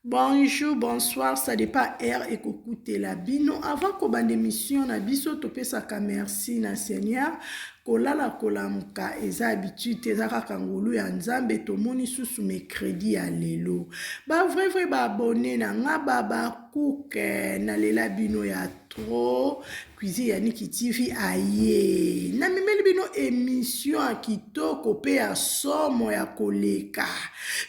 Bonjour, bonsoir, ça dépend heure ekokutela bino. Avant kobanda émission na biso, topesaka merci na Seigneur. Kolala kolamuka eza habitude te, eza kaka ngolu ya Nzambe. Tomoni susu mercredi ya lelo. Ba vrai vrai ba abonné na nga ba ba cook eh, nalela bino ya trop. Cuisine ya Niki TV aye na memeli bino emission ya kitoko pe ya somo ya koleka.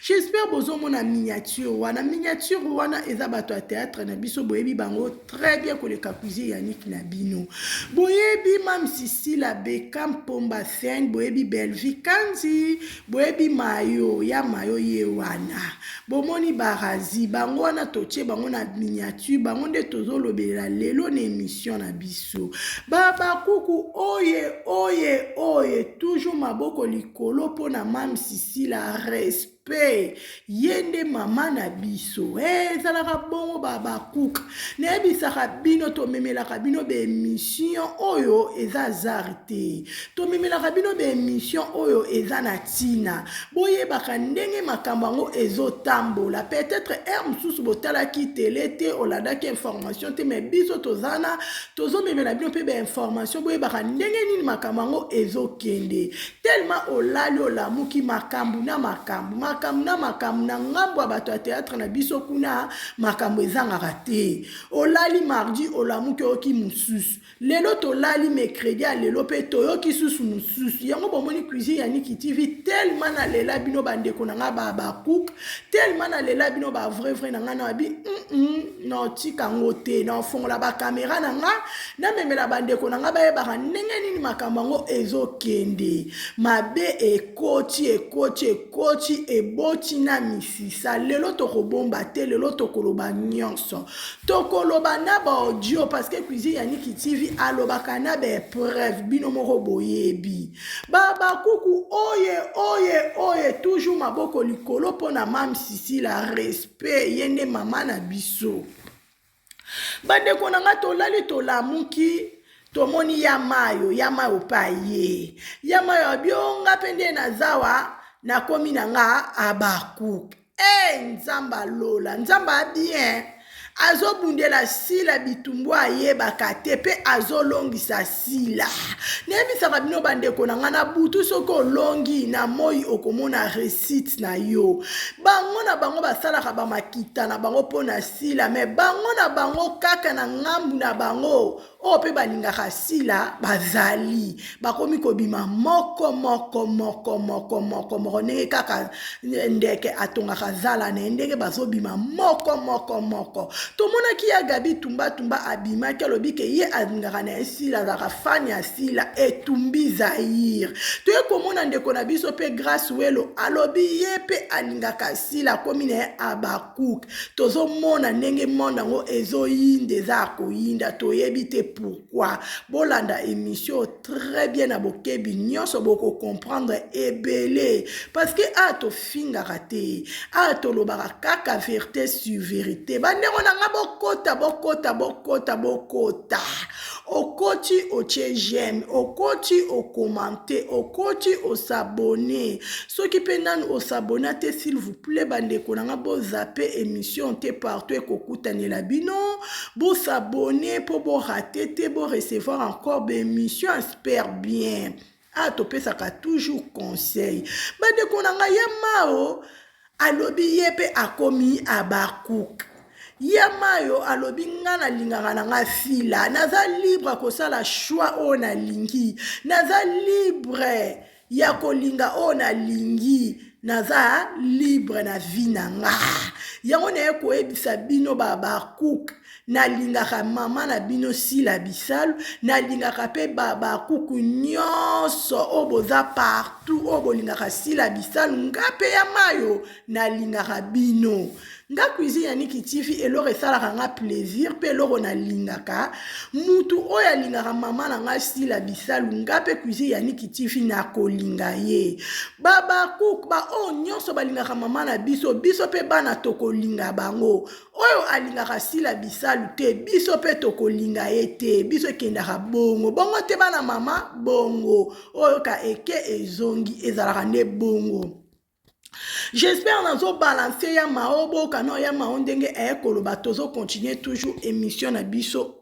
J'espère bozomona miniature wana. Miniature wana eza bato ya théâtre na biso boyebi bango très bien koleka cuisine ya Niki na bino. Boyebi Mam Sisila Beckham Pomba Seng, boyebi Bellevue Kanzi, Boyebi mayo ya mayo ye wana bomoni ba Razi bango wana totie bango na miniature bango nde tozo lobelela lelo na emission na biso ba bakuku oye oye oye toujours maboko likolo pona mamsi sila respect ye nde mama na biso eh, ezalaka hey, bongo babakuka nayebisaka bino tomemelaka bino baemission oyo eza zar te tomemelaka bino baemission oyo eza na ntina boyebaka ndenge makambo yango ezotambola peut-être heure mosusu botalaki tele te olandaki information te mais biso tozana tozomemela bino mpe bainformation boyebaka ndenge nini makambo yango ezokende Tellement olali olamuki makambu na makambu makambu na makambu na ngambo ya bato ya théâtre na biso kuna makambu ezangaka te olali mardi olamuki oyoki mosusu lelo tolali mercredi ya lelo mpe toyoki susu mosusu yango bomoni cuisine ya niki tv tellement nalela bino bandeko na ngai babakouk tellement nalela bino bavrai vrai na ngai na babi mm -mm, naotika yango te naofongola bakamera na ngai namemela bandeko na ngai bayebaka ndenge nini makambo yango ezokende mabe ekoti ekoti ekoti eboti na misisa lelo tokobomba te lelo tokoloba nyonso tokoloba na baaudio parceke cuisine ya niki tv alobaka na baepreuve bino moko boyebi babakuku oye oye oye toujours maboko likolo mpo na mamsisila respect ye nde mama na biso Bandeko na nga tolali tolamuki tomoni ya mayo ya mayo pa ye ya mayo abionga pe nde nazawa nakomi na nga abakuk e eh, nzamba lola nzamba bien azobundela sila bitumbu ayebaka te pe azolongisa sila nayebisaka bino bandeko na ngai na butu soki olongi na moi okomona resite na yo bango na bango basalaka bamakita na bango mpo na sila me bango na bango kaka na ngambu na bango oyo mpe balingaka sila bazali bakomi kobima moko moko moko moko moko moko ndenge kaka ndeke atongaka zala na ye ndenge bazobima moko moko moko tomonaki ya gabi tumba tumba abimaki alobi ke ye alingaka na ye sila azalaka fani ya sila etumbi zaire toye komona ndeko na biso mpe grace welo alobi ye mpe alingaka sila akomi na ye abakuk tozomona ndenge monde yango ezoyinda eza ya koyinda toyebi te pour Pourquoi? Bolanda emission très bien na bokebi nyonso boko comprendre ebele parce que a tofingaka te a tolobaka kaka verite sur verite bandeko na nga bokota bokota bokota bokota okoti otie j'aime okoti okomante okoti osabone soki mpe nanu osabona te s'il vous plaît bandeko na nga bozape emission te partout ekokutanela bino Bo s'abonner po bo rater te, bo recevoir encore ba emissions ya super bien. Ah topesaka toujours conseil. Bandeko na ngai ya Mao alobi ye pe akomi Habakkuk. ya mayo alobi nga nalingaka na nga sila naza libre kosala choix oyo nalingi naza libre ya kolinga oyo nalingi naza libre na vie na nga yango naye koyebisa bino babakuke nalingaka mama na bino sila bisalu nalingaka mpe babakuku nyonso oyo boza partout oyo bolingaka sila bisalu nga mpe ya mayo nalingaka bino nga cuisine ya niki tifi eloko esalaka nga plaisir mpe eloko nalingaka mutu oyo alingaka mama na nga sila bisalu nga mpe cuisine ya niki tifi nakolinga ye babakuk baoyo nyonso balingaka mama na biso biso mpe bana tokolinga bango oyo alingaka sila bisalu te biso mpe tokolinga ye te biso ekendaka bongo bongo te bana mama bongo oyo ka eke ezongi ezalaka nde bongo J'espère nazo balancer ya mao boka no ya mao ndenge eh koloba tozo continuer toujours émission na biso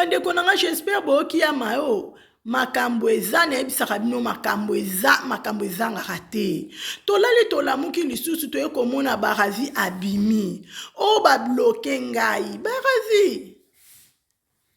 bandeko na nga j'espère boyoki ya mayo makambo eza nayebisaka bino makambo eza makambo ezangaka te tolali tolamuki lisusu toye komona barazi abimi oyo oh, babloke ngai barazi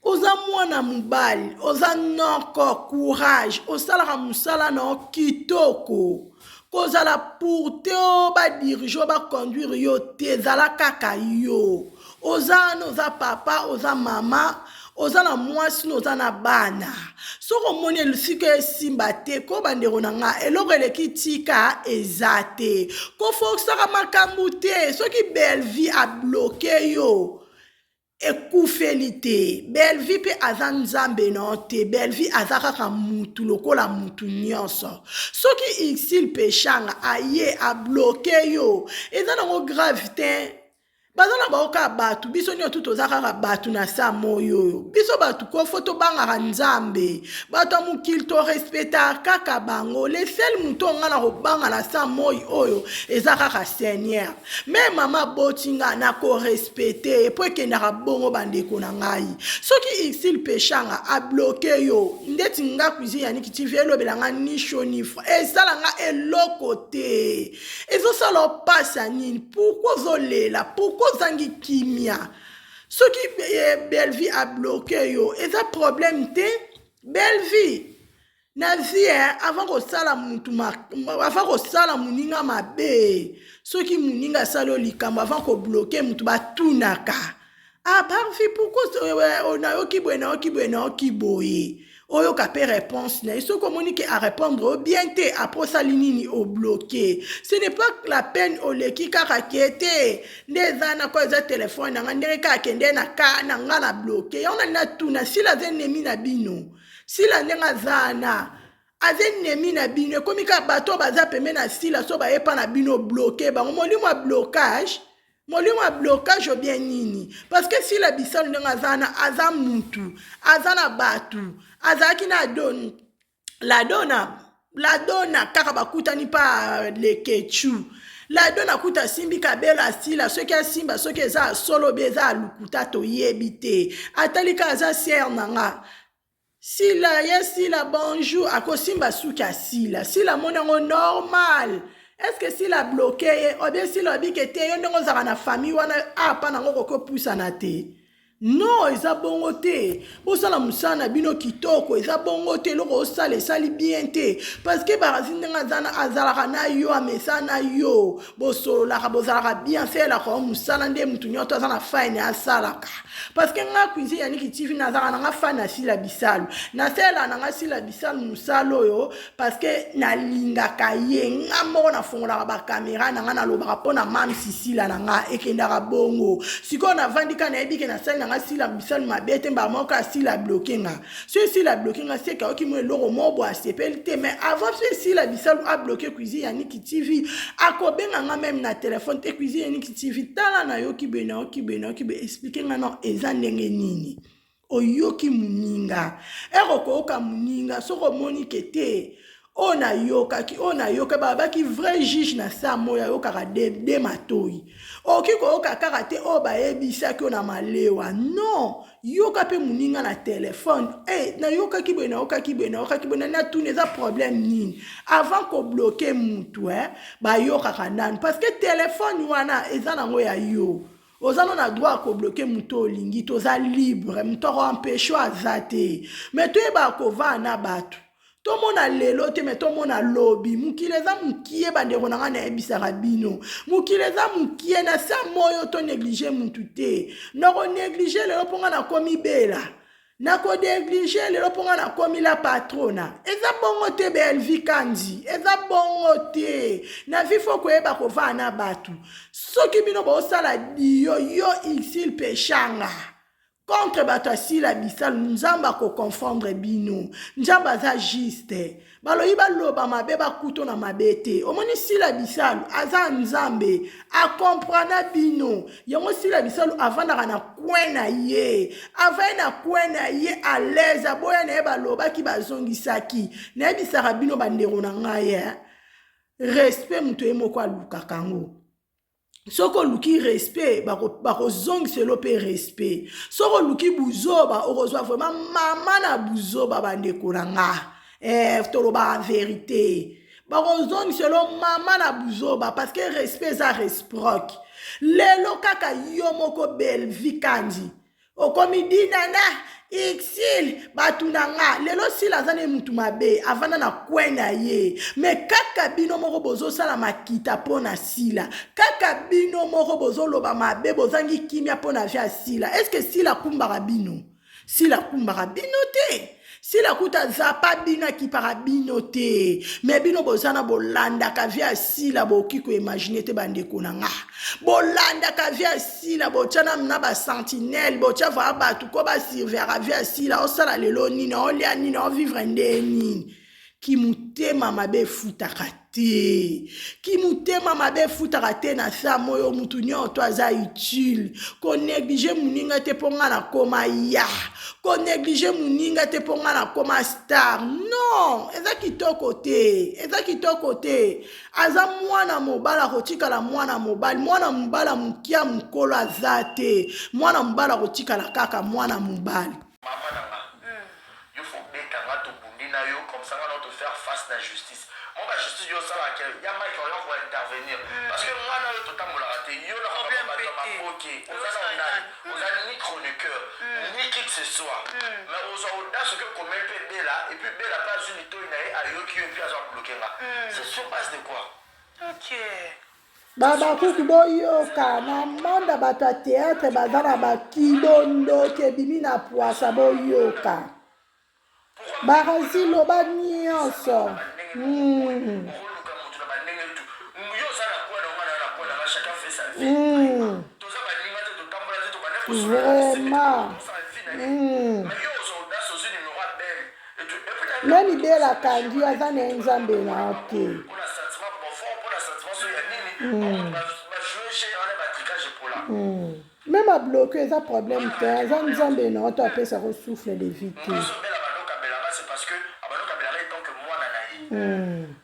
oza mwana mobali oza noko courage osalaka mosala na yo kitoko kozala pour te o oh, badirige o oh, baconduire yo te ezala kaka yo oza wana oza papa oza mama oza na mwasi no oza na bana soki omoni elusika esimba te ko bandeko na nga eloko eleki tika eza te kofokisaka makambo te soki belvie abloke yo ekufeli te belvi mpe aza nzambe na yo te belvi aza kaka mutu lokola mutu nyonso soki isil peshanga aye abloke yo eza nango grave te baza na bango kaka bato biso nyonso toza kaka bato na saa moi oyo biso bato kofo tobangaka nzambe bato ya mokili torespeta kaka bango lesele moto oyo ngai na kobanga na saa moi oyo eza kaka seigneur me mama aboti ngai na korespete mpo ekendaka bongo bandeko na ngai soki isil peshanga abloke yo ndeti nga cuisine ya nikitivi elobela ngai ni sho ni fra esala ngai eloko te ezosala opasi ya nini pourkui ozolela pourkui ozangi kimia soki eh, belvie abloke yo eza problème te belvie na vie eh, avant kosala mutu avant kosala moninga mabe soki moninga asali yo likambo avant kobloke mutu batunaka aparfi pourkoi nayoki boye nayoki boye nayoki boye oyoka mpe réponse na ye soki omoni ke arépondre yo bien te apres osali nini obloke ce n'est pas la peine oleki kaka ke te nde eza nako eza telefone na ngai ndenge kaka kende na ka na ngai na bloke yango na natuna sila aza enemi na bino sila ndenge aza na aza enemi na bino ekomi kaka bato oyo baza pembe na sila so bayepa na bino bloke bango molimo ya blocage molimo ya blocage obien nini parceke sila bisalu ndenge aza wana aza mutu aza na bato azalaki na don ladona ladona kaka bakutani mpa lekechu ladona kuta asimbi kabela asila soki asimba soki eza solo be eza alukuta toyebi te atali kaka aza siere na nga Sila ye sila bonjour akosimba suki ya sila sila amoni yango normal eske sila abloke ye obie sila abike te yo ndenge ozalaka na famille wana apa nango okoki opusana te non eza bongo te bosala mosala na bino kitoko eza bongo te eloko osala esali bien te parceke barazi ndenge azalaka na yo amesa na yo bosololaka bozalaka bien asalelaka yo mosala nde motu nyonso aza na fine asalaka parceke nga cuisine yaniki tv nazalaka na nga fane ya sila bisalu nasalelaka na nga sila bisalu mosala oyo parceke nalingaka ye nga moko nafongolaka bakamera na nga nalobaka mpo na mamsi sila na nga ekendaka bongo sikoyo navandi ka nayebi ke nasali na nga sila bisalu mabe te mbala moko asila bloke nga so esila abloke nga seke ayoki mwa eloko moko boye asepeli te mais avant so esila bisalu abloke cuisine ya niki tv akobenga nga meme na telefone te cuisine ya niki tv tala nayoki boye nayoki boye nayoki boye explike nga no eza ndenge nini oyoki moninga ere okoyoka moninga soki omoni ke te oyo nayokaki oyo nayoka babaki vrai juge na saa moi ayokaka de, de matoi okoki koyoka kaka te oyo bayebisaki oyo na malewa non yoka mpe moninga na telefone hey, eh, nayokaki boye nayokaki boye nayokaki boye natuni eza problème nini avant kobloke motu eh, bayokaka nanu parce que telefone wana eza nango ya yo oza no na droit ya kobloke moto olingi toza libre moto akoampesho aza te me toyebaka kovaa na bato tomona lelo te me tomona lobi mokili eza mokie bandeko na ngai nayebisaka bino mokili eza mokie na sa moyo toneglige mutu te nakoneglige lelo mpo ngai nakomi bela nakoneglige lelo mpo ngai nakomi la patrona eza bongo te belvi kanzi eza bongo te na vi fo koyeba kovaa na bato soki bino bosala diyo yo isil peshanga contre bato ya sila bisalu nzambe akoconfondre bino nzambe aza juste balobi baloba mabe bakuto na mabe te omoni sila bisalu aza nzambe akomprana bino yango sila bisalu avandaka na kwen na ye avai na kwen na ye alaise aboya na ye balobaki bazongisaki nayebisaka bino bandeko na ngai eh? respect moto ye moko alukaka yango soki oluki respect bakozongiselo bako mpe respect soki oluki buzoba okozwa vraimen mama na buzoba bandeko na nga eh, tolobaka verite bakozongiselo mama na buzoba parce que respect eza resproc lelo kaka yo moko belvi kandi okomi dinana ixil bato na nga lelo sila aza ne mutu mabe avanda na kwe na ye me kaka bino moko bozosala makita mpo na sila kaka bino moko bozoloba mabe bozangi kimia mpo na vie ya sila eske sila akumbaka bino sila akumbaka bino te sila kuta aza pa bino akipaka bino te me bino boza na bolandaka vie ya sila bokoki koimagine te bandeko na nga bolandaka vie ya sila botya na na basentinele botya vaa bato ko basurveaka vie ya sila osala lelo nini olya nini ovivre nde nini kimutema mabe efutaka te kimutema mabe efutaka te na saa moyo mutu nyoto aza utile koneglige moninga te mpo ngai nakoma ya koneglige moninga te mpo ngai nakoma star non eza kitoko te eza kitoko te aza mwana mobali akotikala mwana mobali mwana mobali ya mokia mokolo aza te mwana mobali akotikala kaka mwana mobali Maman na nga yo faut obeta nga to bundi na yo comme ça nga na yo to faire face na justice mwa ba justice yo osalaka que ya Mike orion ako intervenir parce que nga na yo to tambolaka te yo na nga batu ya maboke oza nanu nani oza ni chroniqueur ni qui que ce soit mais ozua audace oke komel pe Bella et puis Bella pe azui litoyi na ye ayoki yo et puis azo bloque nga c'est sur base de quoi? Ok. Babakuku boyoka na manda bato ya teatre baza na bakibo ndoki ebimi na pwasa boyoka barazi loba nyonso mm. Mm. Vraiment. Mm. Nani bela akangi aza na ye nzambe na yo te meme hmm. abloke hmm. eza problème te aza nzambe na yo to apesa ko souffle de vie te hmm.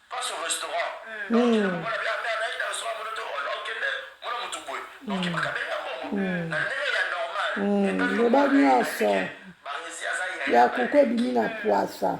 Loba nionso ya kuku ebimi na pwasa.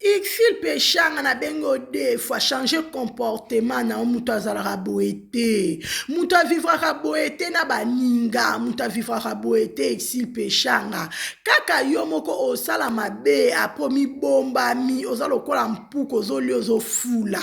Ursule Peshanga na bengi yo deux fois change comportement na yo moto azalaka boye te moto avivraka boye te na baninga moto avivraka boye te Ursule Peshanga kaka yo moko osala mabe apres omibombami oza lokola mpuku ozolia ozofula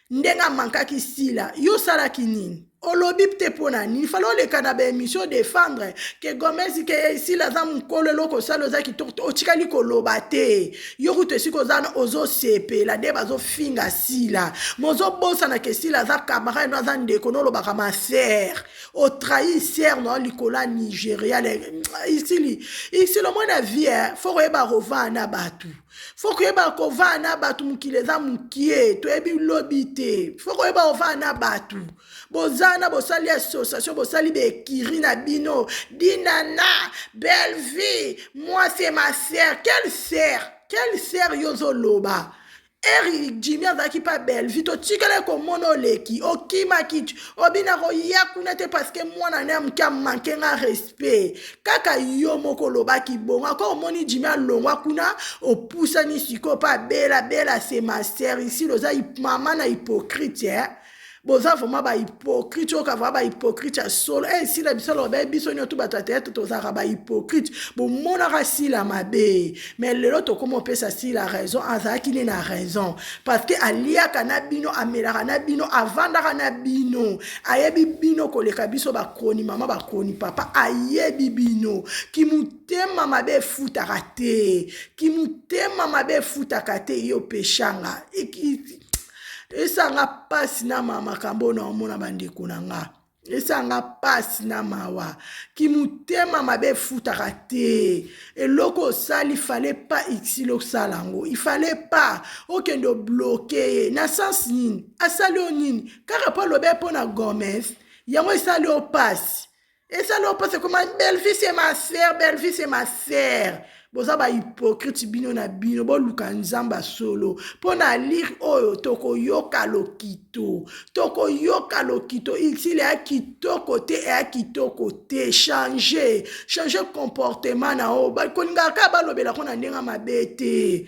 ndenge amankaki sila yo osalaki nini olobi te mpo na nini fala oleka na baémission defendre ke gomez ke esila aza mokolo eloko osala oza kitoko te otikali koloba te yo kutu esika oza na ozosepela nde bazofinga sila mozobosana ke sila aza camarade no aza ndeko nolobaka ma ser otrahi ser nao likolo ya nigeria isili isili omona vie fo koyeba rovana bato fo koyeba kovaa na bato mokili eza mokie toyebi lobi te fo koyeba ovaa na bato boza na bosali association bosali baekiri na bino dinana bellevie moi se ma ser quelle ser quelle ser yo ozoloba eri jimi azalaki mpa bellevie totikala komona oleki okimaki obina koya kuna te parceke mwana na ya moke amanke nga respect respect kaka yo moko olobaki bongo aka omoni jimi alongwa kuna opusani sikoyo mpe abela bela se master isili oza mama na hypocrite eh? boza vraimen bahypocrite oyoka vraimen bahypocrite ya solo e eh, sila biso aloba baye biso nyonso bato ya teyatre tozalaka bahypocrite bomonaka sila mabe mais lelo tokoma opesa sila raison azalaki nde na raison parce que aliaka na bino amelaka na bino avandaka na bino Ayebi bino koleka biso ba chroni mama ba chroni papa ayebi bino kimutema mabe efutaka te kimutema mabe efutaka te yo peshanga esanga pasi na ma makambo oyo naomona bandeko na nga esanga pasi na mawa kimutema mabe efutaka te eloko osali fale pa exile osala yango ifale pa okende obloke ye na sense nini asali yo nini kaka mpo alobe mpo na gomes yango esali yo mpasi esali yo mpasi ekoma bellevie se ma sœur bellevie se ma sœur boza bahypokrite bino na bino boluka nzambe ya solo mpo na lire oyo tokoyoka lokito tokoyoka lokito utile ya kitoko te eya kitoko te change change comportement na yo bakolingaka kaka balobelako na ndenge mabe te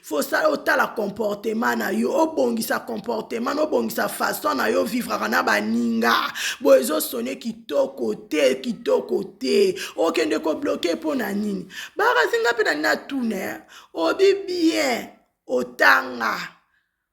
fosala otala comportement na yo obongisa comportement na obongisa façon na yo vivraka na baninga boye ezosone kitoko te kitoko te okende kobloke mpo na nini bakazinga mpe na nini atuna obi bien otanga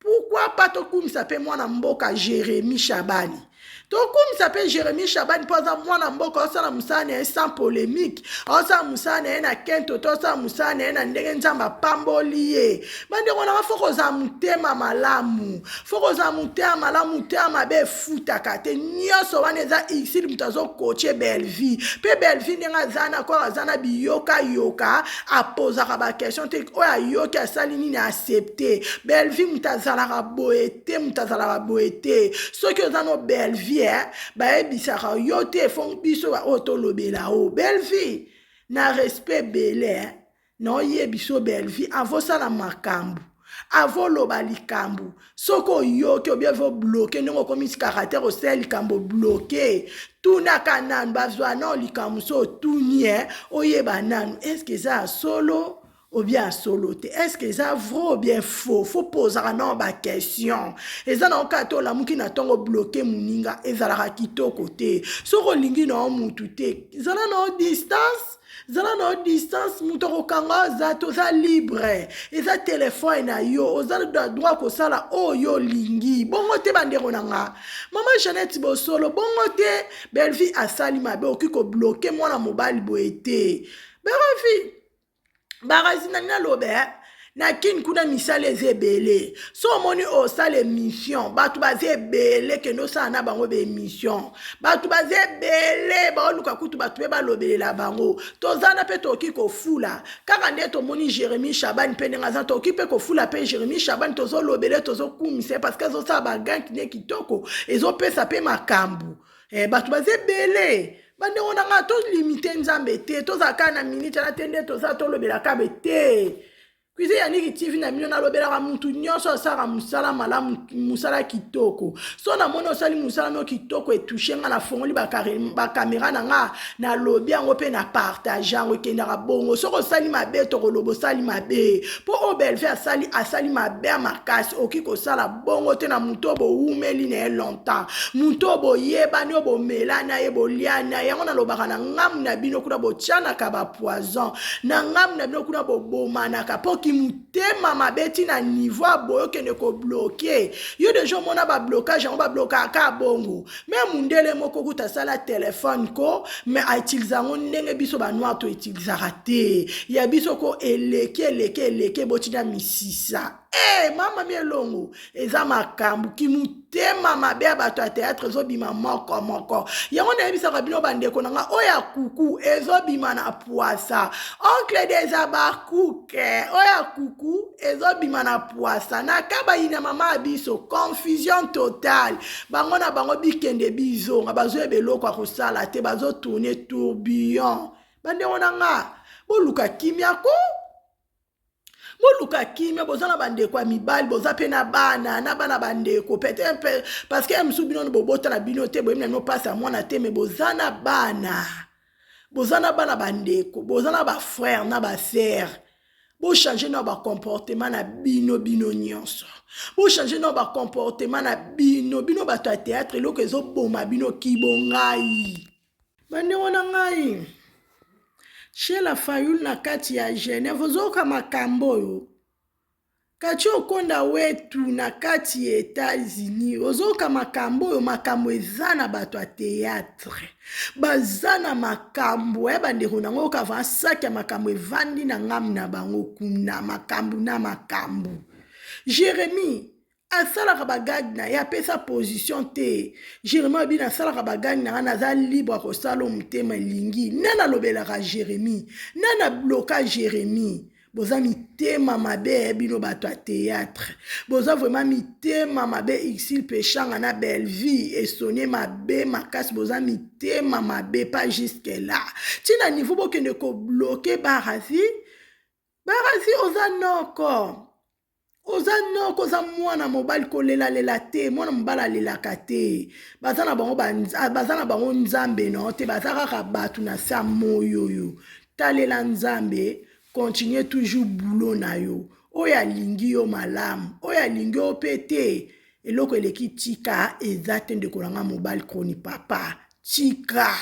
Pourquoi pas tokumisa pe mwana mboka Jeremy Shabani tokumisa pe Jeremy Shabani mpo aza mwana mboka osala mosala na ye sans polemique osala mosala na ye na kento to osala mosala na ye na ndenge nzambe apamboli ye bandeko nanga fo kozala motema malamu fo kozala motema malamu motema mabe efutaka te nyonso wana eza isili moto azokoche bellevie mpe bellevie ndenge aza na kor aza na biyokayoka apozaka baquestion te oyo ayoki asali nini aaccepte belvie moto azalaka boye te moto azalaka boye te soki oza no belvie eh, bayebisaka yo te fo biso baoyo tolobela o belvie na respect ebele eh, naoyebi so belvie avosala makambo Avant oloba likambo, soki oyoki obie vo bloke ndenge okomi caractère osala likambo bloke. Tunaka nanu bazwa nao likambo so otuni eh, oyeba nanu eske eza ya solo obien ya solo te eske eza vrai obien faux fo pozaka nao baquestion eza nao kaka te olamuki na ntongo bloke moninga ezalaka kitoko te soki olingi nao mutu te zala nao distance zala na yo distance moto akokanga aza te oza libre eza telefone na yo oza na droit kosala oyo olingi bongo te bandeko na nga mama janete bosolo bongo te bellevie asali mabe okoki kobloke mwana mobali boye te bellevie barazina nalobe eh? na kin kuna misala eza ebele so omoni osala emission bato baza ebele kende osala na bango baemission bato baza ebele baoluka kutu bato mpe balobelela bango toza na mpe tokoki kofula kaka nde tomoni jérémie shabani mpe ndenge aza tokoki mpe kofula mpe jérémie shabani tozolobele tozokumisa ye parceke ezosala baganki ne kitoko ezopesa mpe makambo Eh, bato baza ebele bandeko na ngai tolimite nzambe te tozala kaka na minite na te nde toza tolobela kabe te kuize ya niki tv na bino nalobelaka mutu nyonso asalaka mosala malamu mosala kitoko so namoni osali mosala mio kitoko etushe ngai nafongoli bakamera na ngai nalobi yango mpe na partage yango ekendaka bongo soki osali mabe tokoloba osali mabe mpo oyo belve asali asali mabe ya makasi okoki kosala bongo te na moto oyo bowumeli na ye longtemps moto oyo boyebani oyo bomela na ye bolia na ye yango nalobaka na ngambu na bino kuna botianaka bapoison na ngambu na bino kuna bobomanaka mpo kimotema mabe ti na niveau ya boye okende kobloke yo deja omona bablokage yango bablokaka ka bongo me mundele moko kuta asala telefone ko me autilize yango ndenge biso banoir toutilisaka te ya biso ko eleki eleki eleki botina misisa Hey, eh, mama mi elongo eza makambo kimutema mabe ya bato ya teatre ezobima moko moko yango nayebisaka bino bandeko na nga oyo ya kuku ezobima na pwasa oncle deza bakuke oyo ya kuku ezobima na pwasa na kabayi na mama ya biso confusion totale bango na bango bikende bizonga bazoyeba eloko ya kosala te bazotourne tourbillon bandeko na nga boluka kimia ko boluka kimia boza na bandeko ya mibali boza mpe na bana na bana bandeko peut-être parce que ya mosusu bino bobota na bino te boyebi na bino mpasi ya mwana te me boza na bana boza na bana bandeko boza na bafrère na basere bochange na bacomportement na bino bino nyonso bochange na bacomportement na bino bino bato ya théâtre eloko ezoboma bino kibongai Bandeko na ngai, Sheila Fayulu na kati ya Genève ozoyoka makambo oyo kati okonda wetu na kati ya Etats-Unis ozoyoka makambo oyo makambo eza na bato ya théâtre baza na makambo ya eh, bandeko nango oyoka va saki ya makambo evandi na ngambu na bango kuna makambo na makambo Jérémie asalaka bagage na ye apesa position te jeremie abi nasalaka bagage na nga naza libre akosala motema elingi nani alobelaka jeremie nani abloka jeremie boza mitema mabe bino bato ya théâtre boza vraiment mitema mabe ixil peshanga na bellevie esone mabe makasi boza mitema mabe pas jusque là ntina niveau bokende kobloke barazi barazi oza noko oza noko oza mwana mobali kolelalela te mwana mobali alelaka te baza na bango ah, baza na bango nzambe na te baza kaka bato na se ya moi oyo talela nzambe continue toujours boulot na yo oyo alingi yo malamu oyo alingi yo mpe te eloko eleki tika eza te ndeko na ngai mobali kroni papa tika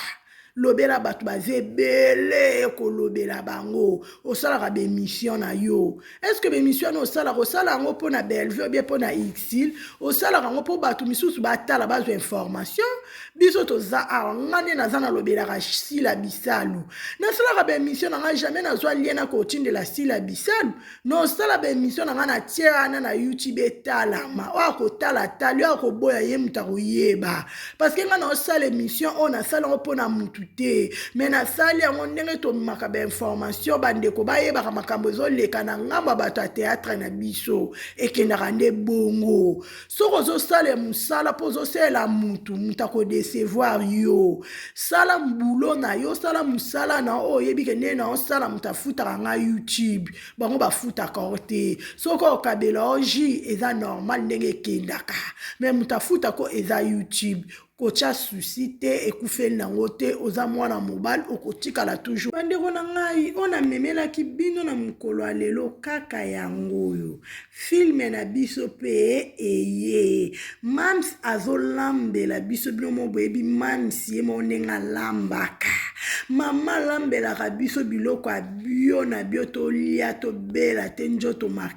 lobela bato baza ebele kolobela bango osalaka bemission na yo estce bemission wana osalaka osala yango mpo na bellevue obie mpo na exil osalaka yango mpo bato misusu batala bazwa information biso toza awa nga nde naza nalobelaka sila bisalu nasalaka bemission na ngai jamais nazwa lie na kotindela sila bisalu nosala baemission na ngai na tie wana na youtube etalama oyo akotala tali oyo akoboya ye moto akoyeba parceke ngai naosala emission oyo nasali yango mpo na motu te me nasali yango ndenge tomemaka bainformation bandeko bayebaka makambo ezoleka na ngambo ya bato ya teatre na biso ekendaka nde bongo soki ozosala mosala mpo ozosalela motu motu akodecevoir yo sala mbulo na yo sala mosala na oyo oyebi ke ndenge na osala moto afutaka ngai youtube bango bafutaka o te soki okabela o ji eza normal ndenge ekendaka me moto afutaka eza youtube kotya susi te ekufeli nango te oza mwana mobali okotikala toujours bandeko na ngai oyo namemelaki bino na mokolo ya lelo kaka yango oyo filme na biso mpe eye mams azolambela biso bino mo boyebi mams ye moko ndenge alambaka mama alambelaka biso biloko ya bio na bio tolia tobela te njoto maka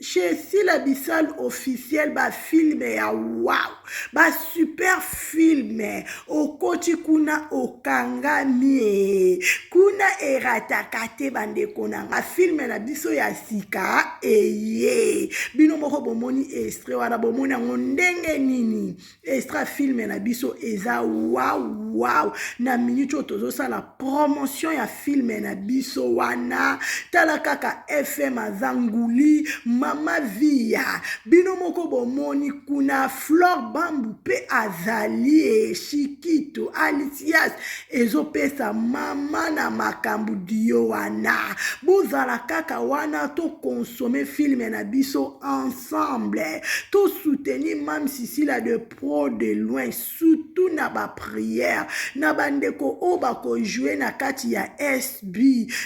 Chez Sila Bissal officiel ba filme ya wow ba super filme okoti kuna okangami kuna erataka te bandeko na nga filme na biso ya sika eye bino moko bomoni estre wana bomoni yango ndenge nini extra filme na biso eza wawu wawu na minute oyo tozosala promotion ya filme na biso wana tala kaka fm aza nguli mama viya bino moko bomoni kuna flore bambu mpe azali eshikito alisias ezopesa mama na makambo dio wana bozala kaka wana tokonsome filme na biso en ensemble to soutenir mam sisila de pro de loin surtout na ba prière na bandeko oyo bakojoue na kati ya sb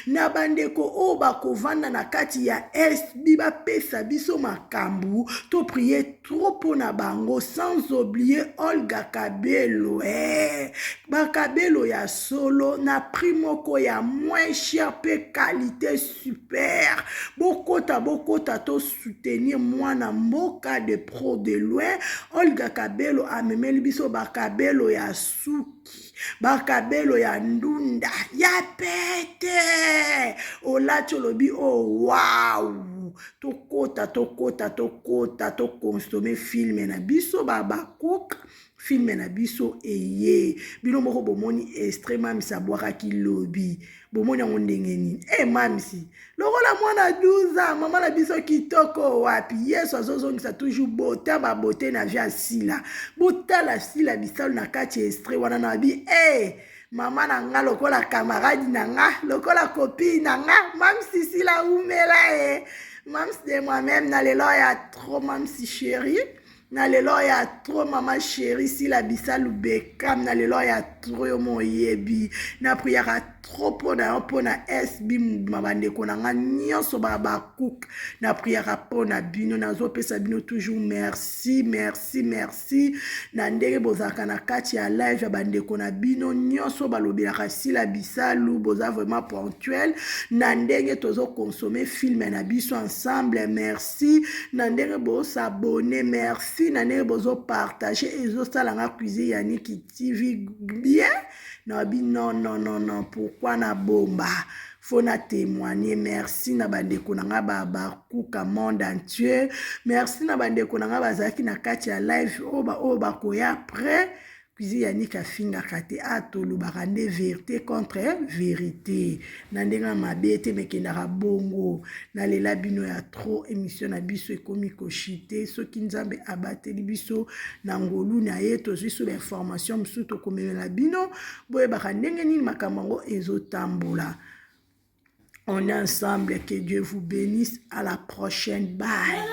na bandeko oyo bakovanda na kati ya sb bapesa biso makambo to prie trop mpo na bango sans oublier olga kabelo e bakabelo ya solo na prix moko ya moins cher mpe qualité super bokota bokota to soutenir mwana mboka de pro de loin olga kabelo amemeli biso bakabelo ya suki bakabelo ya ndunda ya pete olati olobi o oh, wow tokota tokota tokota tokonsome filme na biso babakoka filme na biso eye bino moko bomoni estre mamisi abwakaki lobi bomoni yango ndenge nini e mamisi lokola mwana 12 mama na biso kitoko wapi yesu azozongisa toujours bota babote na vi ya sila botala sila bisalu na kati ya estre wana na bi e hey! mama na nga lokola kamaradi na nga lokola kopi na nga mamisi sila umela e eh. mamsi de moi-même na lelo ya trop mamsi chérie na lelo ya tro mama sheri sila bisalu bekam na lelo ya tro yo mo oyebi na priaka tro mpo na yo mpo na sb mobima bandeko na ngai nyonso babakuke na priaka mpo na bino nazopesa bino toujours merci merci merci na ndenge bozalaka na kati ya live ya bandeko na bino nyonso balobelaka sila bisalu boza vraiment ponctuel na ndenge tozokonsome filme na biso ensemble merci merci na ndenge bosabone merci na ndenge bozopartage ezosala nga cuisine ya niki tv bien na bi non non non non pourkui na bomba fo na témoigne merci na bandeko na ngai babakuka monde entier merci na bandeko na ngai bazalaki na kati ya live oyo baoyo bakoya après Cuisine ya Nick afingaka te a tolobaka nde verite contre verite na ndenge ya mabe te mekendaka bongo nalela bino ya trop émission na biso ekomi koshite soki nzambe abateli biso na ngolu na ye tozwi so bainformation mosusu tokomemela bino boyebaka ndenge nini makambo yango ezotambola on est ensemble que dieu vous bénisse à la prochaine bye